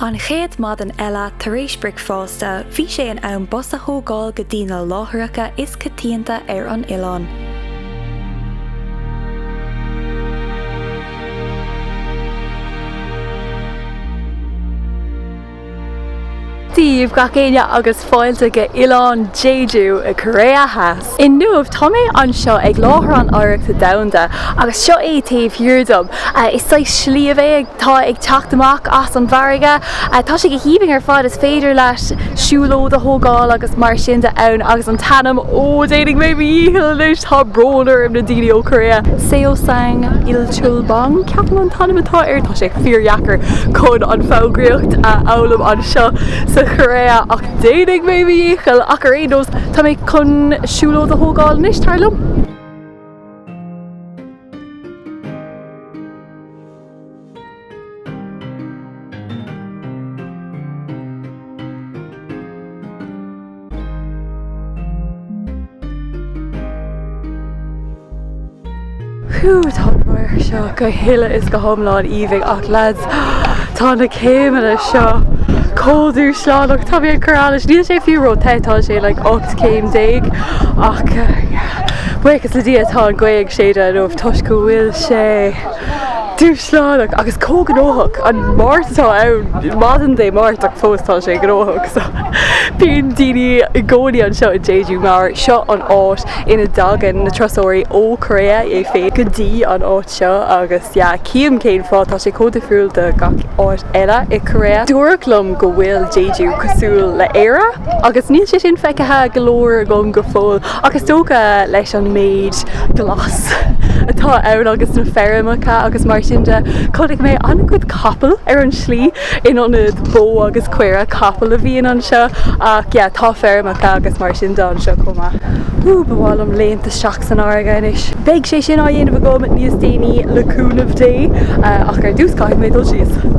An chéad maidin eile tar éis bricfeásta bhí sé in am bus a thógáil go dtí na láthaireacha is coitianta ar an oileán. Daoibh, gach éinne, agus fáilte go Oileán Jeju i gCóiré Theas. Inniu, tá mé anseo ag láthair an Oidhreachta Domhanda, agus seo é taobh thiar dom. Is saghas sliabh é atá ag teacht amach as an bhfarraige. Tá sé go haoibhinn ar fad, is féidir leat siúlóid a thógáil agus mar sin de ann, agus an t-ainm, oh, déanfaidh mé mo dhícheall anois, tá brón orm, na daoine ó Korea, Seongsan Il. Chulbong, ceapaim an t-ainm atá air, tá sé fíordheacair chun an foghraíocht a fhoghlaim anseo sa Chóiré, ach déanfaidh mé mo dhícheall, ach ar aon nós, tá mé chun siúlóid a thógáil anois, tar liom! Whew, tá an radharc seo go huile is go hiomlán aoibhinn ach lads, tá na céimeanna seo chomh dúshlánach, tá mé ag cur allais, níl sé fiú róthe, tá sé like ocht céim déag ach yeah, buíochas le Dia tá an gaoth ag séideadh inniu toisc go bhfuil sé. Dúshlánach agus chomh gnóthach an Mháirt atá ann, maidin Dé Máirt, ach fós tá sé gnóthach. So bíonn daoine i gcónaí anseo i Jeju mar seo an áit ina dtagann na turasóirí ó Korea é féin go dtí an áit seo agus yeah cím cén fáth tá sé chomh difriúil de gach áit eile i Korea. Dúradh liom go bhfuil Jeju cosúil le Éire agus níl sé sin feicthe go leor agam go fóill. Ach is dócha leis an méid glas atá ann agus na feirmeacha agus mar sin de, chonaic mé ana-chuid capall ar an tslí in ionad bó agus caora, capall a bhíonn anseo ach yeah, tá feirmeacha agus mar sin de anseo chomh maith. Wú, ba mhaith liom léimt isteach san fharraige anois. Beidh sé sin á dhéanamh agam níos déanaí le cúnamh Dé ach ar dtús caithfidh mé dul síos.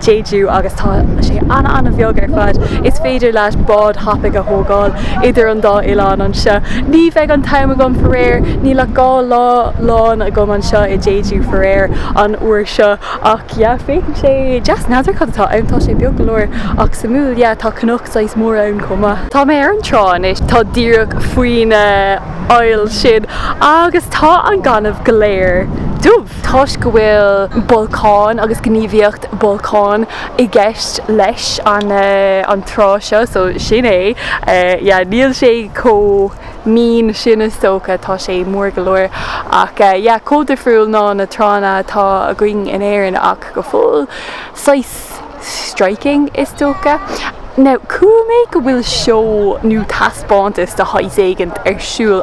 Jeju agus tá sé ana-ana-bheag ar fad. Is féidir leat bád tapaidh a thógáil idir an dá oileán anseo. Ní bheidh an t-am agam, faraor, níl ach dhá lá lán agam anseo i Jeju, faraor, an uair seo, ach yeah, féachann sé deas. N'fheadar cad atá ann, tá sé beag go leor, ach suimiúil, yeah, tá cnoc saghas mór ann chomh maith. Tá mé ar an trá anois, tá díreach faoin fhaill sin, agus tá an gaineamh go léir dubh. toisc go bhfuil bolcáin agus gníomhaíocht bolcáin i gceist leis an trá seo so sin é yeah níl sé chomh mín sin is dócha tá sé mór go leor ach yeah chomh difriúil ná na tránna atá againn in Éirinn ach go fóill saghas striking is dócha now chuala mé go bhfuil seó nó taispeántas de shaghas éigint ar siúl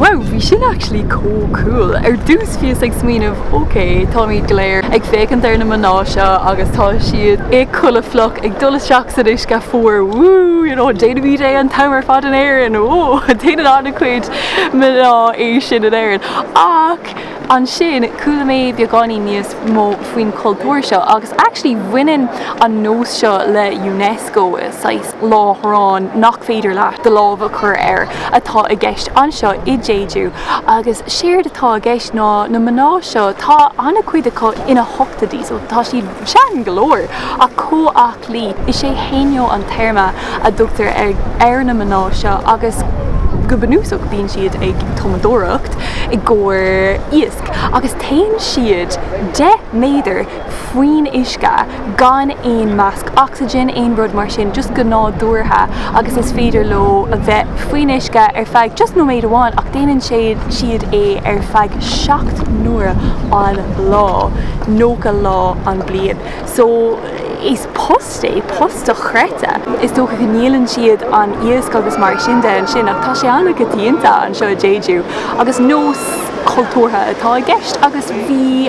Wow, bhí sin actually chomh cool. Ar dtús bhíos ag smaoineamh ok, táimid go léir ag féachaint ar na mná seo agus tá siad i gculaith fhliuch ag dul isteach san uisce fuar woo you know déanaimid é an t-am ar fad in Éirinn oh déanann an-chuid mná é sin in Éirinn ach ansin chuala mé beagáinín níos mó faoin chultúr seo agus actually bhaineann an nós seo le Unesco saghas láithreán nach féidir leat do lámh a chur air atá i gceist anseo i Jeju agus séard atá i gceist ná na mná seo, tá an-chuid acu ina ochtóidí so tá siad sean go leor ach chomh aclaí. Is é haenyeo an téarma a dtugtar ar na mná seo agus go bunúsach bíonn siad ag tumadóireacht i gcomhair iasc agus téann siad deich méadar faoin uisce, gan aon masc oxygen, aon rud mar sin, just go nádúrtha agus is féidir leo a bheith faoin uisce ar feadh just nóiméad amháin ach déanann siad é ar feadh seacht n-uaire an lá, nócha lá an bliain. So, is post é, post dochreidte. Is dócha go ndíolann siad an iasc agus mar sin de ansin ach tá sé an-choitianta anseo i Jeju agus nós cultúrtha atá i gceist agus bhí,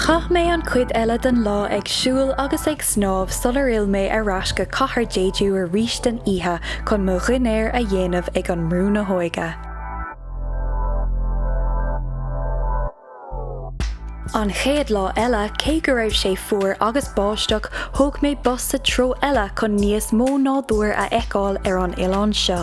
Chaith mé an chuid eile den lá ag siúl agus ag snámh sular fhill mé ar ais go cathair Jeju arís den oíche chun mo dhinnéar a dhéanamh ag an mbrú na hÓige. An chéad lá eile, cé go raibh sé fuar agus báisteach, thóg mé bus sa treo eile chun níos mó nádúir a fheiceáil ar an oileán seo.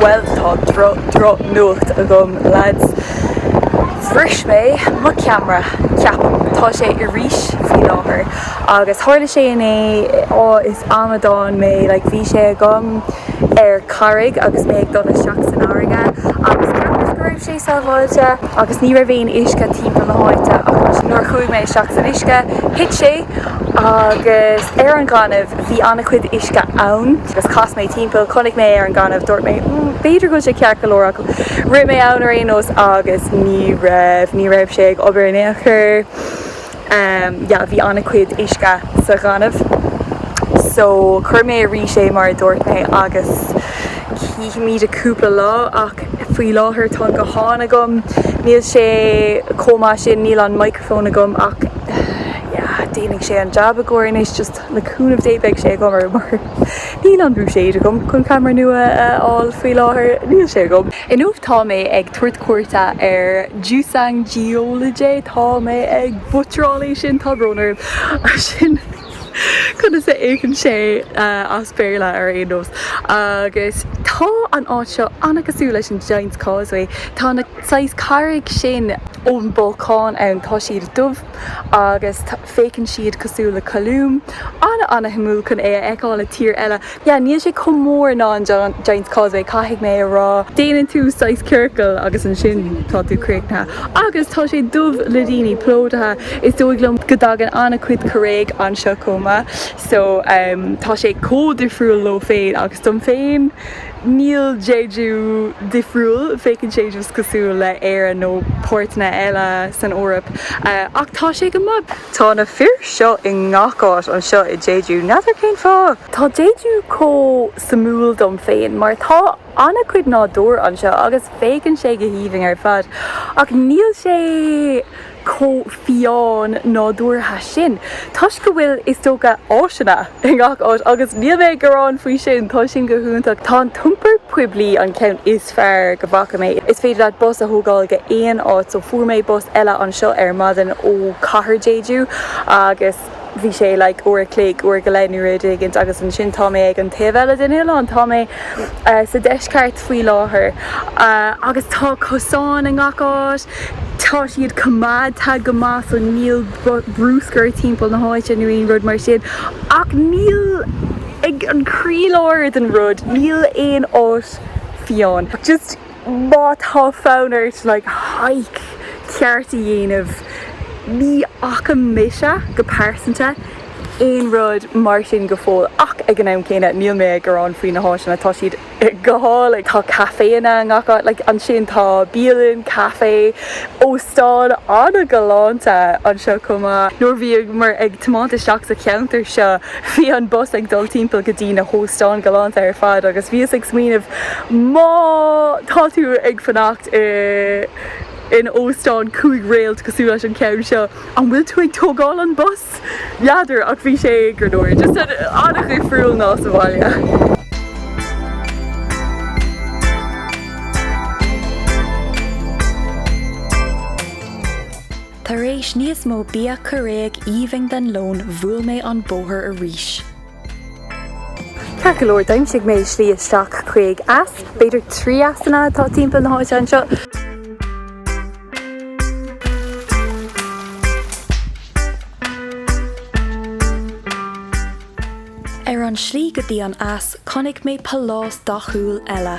Bhuel, tá droch droch nuacht agam lads. Bhris mé mo ceamra, ceapaim. Tá sé i rís faoi láthair. Agus tharla sé inné, aww is amadán mé, like bhí sé agam ar carraig agus mé ag dul isteach san fharraige agus ceapas go raibh sé sábháilte agus ní raibh aon uisce timpeall na háite ach nuair a chuaigh mé isteach san uisce, thit sé agus ar an ghaineamh bhí an-chuid uisce ann. Agus chas mé timpeall, chonaic mé ar an ghaineamh, dúirt mé, mm, b'fhéidir go bhfuil sé ceart go leor ach rith mé ann ar aon nós agus ní raibh, ní raibh sé ag obair in aon chor. Yeah, bhí an-chuid uisce sa ghaineamh. So, chuir mé i rís é mar a dúirt mé agus chífimid i cúpla lá ach faoi láthair tá an guthán agam, níl sé chomh maith sin, níl an microphone agam ach, yeah, déanfaidh sé an jab i gcomhair anois, just. Le cúnamh Dé beidh sé go maith, mar níl an buiséad agam chun ceamara nua a fháil faoi láthair. Níl sé agam. Inniu tá mé ag tabhairt cuairte ar Jusangjeollidae. Tá mé ag butcheráil é sin, tá brón orm! Sin conas a fhéachann sé as Béarla ar aon nós. Agus tá an áit seo an-chosúil leis an Giant's Causeway. Tá na saghas carraig sin ón bolcán ann, tá siad dubh agus Féachann siad cosúil le colún, an-an-shuimiúil chun é a fheiceáil i tír eile. Yeah, níl sé chomh mór ná an Giant's Causeway, caithfidh mé a rá. Déanann tú saghas ciorcal agus ansin tá tú críochnaithe. Agus tá sé dubh le daoine, plódaithe. Is dóigh liom go dtagann an-chuid Cóiréigh anseo chomh maith. So, tá sé chomh difriúil leo féin agus dom féin. Níl Jeju difriúil, féachann sé just cosúil le Éire nó páirteanna eile san Eoraip, ach tá sé go maith. Tá na fir seo i ngach áit anseo i Jeju, n'fheadar cén fáth? Tá Jeju chomh suimiúil dom féin mar tá an-chuid nádúr anseo agus féachann sé go haoibhinn ar fad, ach níl sé. chomh fiáin nádúrtha sin toisc go bhfuil, is dócha, áiseanna i ngach áit agus níl mé ag gearán faoi sin, tá sin go hiontach. Tá an t-iompar poiblí an ceann is fearr go bhfaca mé. Is féidir leat bus a thógáil go aon áit so fuair mé bus eile anseo ar maidin ó Cathair Jeju agus, bhí sé like uair a chloig, uair go leith nó rud éigint agus ansin tá mé ag an taobh eile den oileán, tá mé sa deisceart faoi láthair agus tá cosáin i ngach áit, tá siad coimeádta go maith so níl brúscar timpeall na háite nó aon rud mar sin ach níl, ag an croílár den rud, níl aon áit fiáin. Just. Má tá fonn ort, like, hike ceart a dhéanamh, ní fhaca mise, go pearsanta, aon rud mar sin go fóill. Ach ag an am céanna, níl mé ag gearán faoi na háiseanna, tá siad go hálainn. Tá caiféanna i ngach áit, like, ansin tá bialann, caifé, óstán an-ghalánta anseo chomh maith. Nuair a bhíomar ag tiomáint isteach sa cheantar seo, Bhí an bus ag dul timpeall go dtí na hóstáin galánta ar fad agus bhíos ag smaoineamh má tá tú ag fanacht in óstán cúig réalt cosúil leis an ceann seo, an bhfuil tú ag tógáil an bus? N'fheadar, ach bhí sé go leor. Just an-dhifriúil ná sa bhaile. Tar éis níos mó bia Cóiréach aoibhinn don lón bhuail mé an bóthar arís. Ceart go leor d'aimsigh mé slí isteach chuig eas, b'fhéidir trí easanna atá timpeall na háite anseo. Ar an slí go dtí an eas chonaic mé pálás dathúil eile.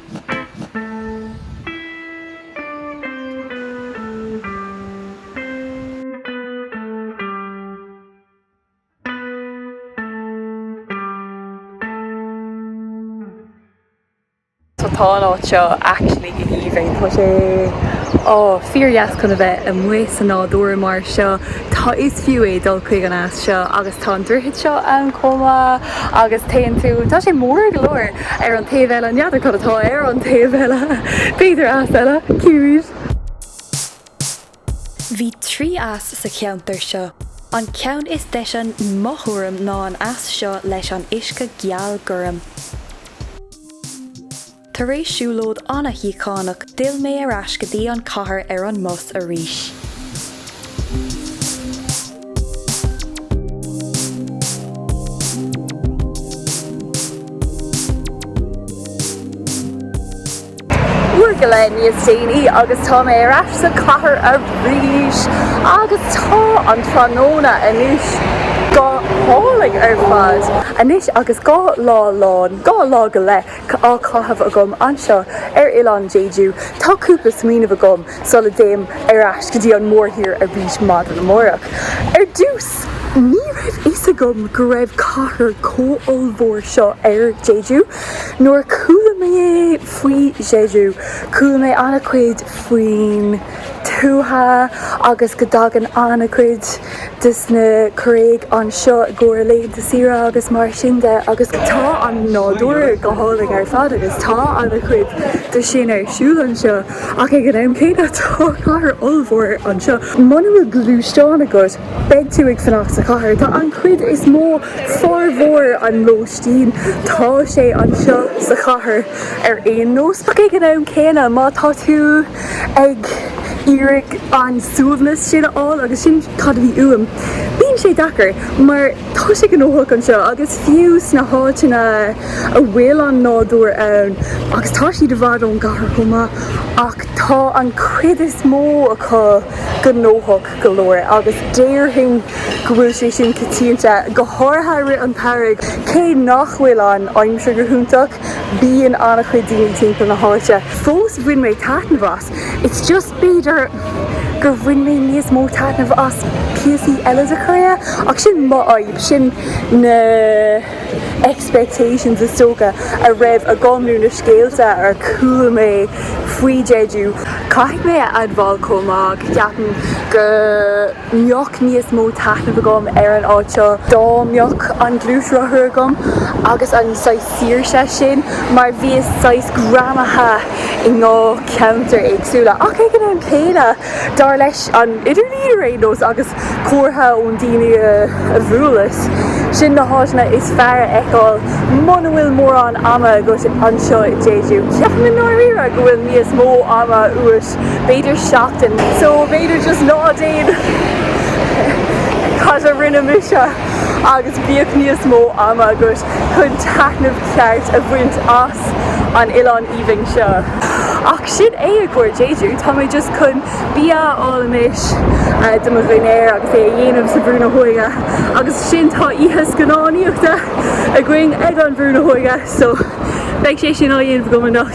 Tá an áit seo actually go haoibhinn. Tá sé, oh, fíordheas chun a bheith amuigh sa nádúr mar seo. Tá, is fiú é dul chuig an eas seo agus tá an droichead seo ann chomh maith agus téann tú, tá sé mór go leor. Ar an taobh eile, n'fheadar cad atá ar an taobh eile. B'fhéidir eas eile. Cá bhfios. Bhí trí eas sa cheantar seo. An ceann is deise i mo thuairim ná an eas seo leis an uisce geal gorm. Tar éis siúlóid ana-shíochánach d'fhill mé ar ais go dtí an cathair ar an mbus arís. Uair go leith níos déanaí agus tá mé ar ais sa chathair arís agus tá an tráthnóna anois go hálainn ar fad. Anois agus dhá lá lán, dhá lá go leith, á chaitheamh agam anseo ar oileán Jeju, tá cúpla smaoineamh agam sula dtéim ar ais go dtí an mórthír arís maidin amárach. Ar dtús, ní raibh a fhios agam go raibh cathair chomh ollmhór seo ar Jeju. Nuair a chuala mé faoi Jeju, chuala mé an-chuid faoin tuath agus go dtagann an-chuid. des na Cóiréigh anseo i gcomhair laethanta saoire agus mar sin de agus tá an nádúr go hálainn ar fad agus tá an-chuid de sin ar siúl anseo ach ag an am céanna tá cathair ollmhór anseo. Muna bhfuil gluaisteán agat beidh tú ag fanacht sa chathair. Tá an chuid is mó, formhór an lóistín, tá sé anseo sa chathair ar aon nós ach ag an am céanna má tá tú, ag iarraidh an suaimhneas sin a fháil agus sin cad a bhí uaim. Bíonn sé deacair mar tá sé gnóthach anseo agus fiú sna háiteanna a bhfuil an nádúr ann agus tá siad i bhfad ón gcathair chomh maith ach tá an chuid is mó acu gnóthach go leor agus déarfainn go bhfuil sé sin coitianta, go háirithe i rith an tsamhraidh cé nach bhfuil an aimsir go hiontach. Bíonn an-chuid daoine timpeall na háite. Fós bhain mé taitneamh as. It's just b'fhéidir gur bhain mé níos mó taitneamh as píosaí eile de Korea ach sin mo fhadhb, sin na expectations is dócha a raibh agam nó na scéalta ar chuala mé faoi Jeju. Caithfidh mé a admháil chomh maith go gceapaim go. mbeadh níos mó taitneamh agam ar an áit seo dá mbeadh an gluaisrothar agam agus an saghas saoirse sin mar bhíos saghas greamaithe i ndhá cheantar éagsúla ach ag an am céanna dar leis an idirlíon ar aon nós agus comhairle ó na daoine a bhuaileas, sin na háiteanna is fearr a fheiceáil muna bhfuil mórán ama agat anseo i Jeju. Ceapaim i ndáiríre go bhfuil níos mó ama uait b'fhéidir seachtain, so b'fhéidir just ná déan cad a rinne mise agus bíodh níos mó ama agat chun taitneamh ceart a bhaint as an oileán aoibhinn seo. Ach sin é i gcomhair Jeju, tá mé just chun bia a fháil anois do mo dhinnéar agus é a dhéanamh sa bhrú na hóige agus ansin tá oíche scannánaíochta againn ag an bhrú na hóige, so beidh sé sin á dhéanamh agam anocht.